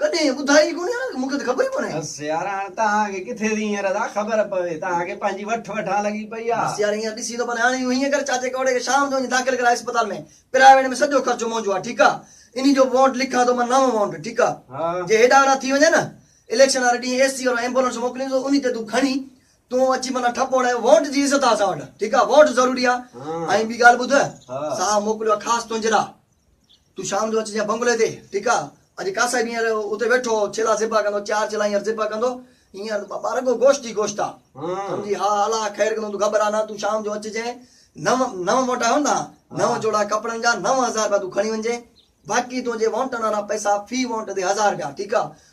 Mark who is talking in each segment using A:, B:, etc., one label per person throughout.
A: ڪڏهن ائين ٻڌائي ئي ڪونهي ها، مون کي ته خبر ئي ڪونهي. بس يار هاڻ توهان
B: کي ڪٿي ٿي هينئر ادا خبر پوي، توهان کي پنهنجي وٺ وٺان لڳي پئي آ. بس يار هينئر ڏسين ٿو پر
A: هاڻي اهو هيئن ڪر چاچي ڪوڙي کي شام جو وڃي داخل ڪراء اسپتال ۾، پرائيويٽ ۾ سڄو خرچو منهنجو آ ٺيڪ آ، انهي جو وونٽ لکان ٿو مان نئون وونٽ ٺيڪ آ، جي هيڏانهن هوڏانهن ٿي وڃي نه اليڪشن واري ڏينهن اي سي وارو ايمبولنس موڪلين ٿو انهي تي تون کڻي تون اچي معنيٰ ٺپ هڻايو، وونٽ جي عزت آ اسان وٽ ٺيڪ آ، وونٽ ضروري آ ۽ ٻي ڳالهه ٻڌ صاحب موڪليو آ خاص تنهنجي لا تون شام جو اچجانء بنگلي تي، ٺيڪ آ. اڄ قاصد هينئر اتي ويٺو هو، ڇيلا ذبح ڪندو، چار ڇيلا هينئر ذبح ڪندو. هينئر ٻه رڳو گوشت ئي گوشت آ. سمجهي؟ ها، الا خير ڪندو، تون گهٻرا نه، تون شام جو اچجانء. نو، نو موٽا هوندا ها، نو جوڙا ڪپڙن جا، نو هزار رپيا تون کڻي وڃجانء. باقي تنهنجي وانٽن وارا پئسا، في وانٽ تي هزار رپيا، ٺيڪ آ.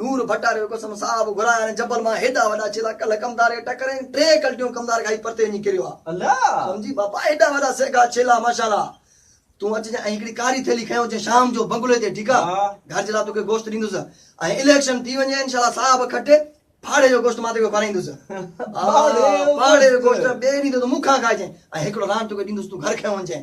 A: نور ڀٽ واري قسم صاحب گهرايان هن جبل مان هيڏا وڏا ڇيلا ڪلهه ڪمدار کي ٽڪرين ٽي ڪلٽيون ڪمدار کائي پرتي وڃي ڪريو آ سمجهي
B: بابا هيڏا
A: وڏا سيگا ڇيلا ماشاءالله تون اچجان ۽ هڪڙي ڪاري ٿيلي کڻي اچجان شام جو بنگلي تي ٺيڪ آ گهر جي لاء توکي گوشت ڏيندس ۽ اليڪشن ٿي وڃي انشاءالله صاحب کٽي پھاڙي جو گوشت مان توکي کارائيندس پھاڙي جو گوشت ٻئي ڏينهن تي تون مون کان کائجين ۽ هڪڙو ران توکي ڏيندس تون گهر کڻي وڃجين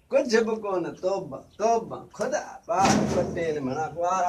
B: ڪجهه به ڪونه توبه توبه خدا پاڪ پٽيل مھڻا ڪوارا.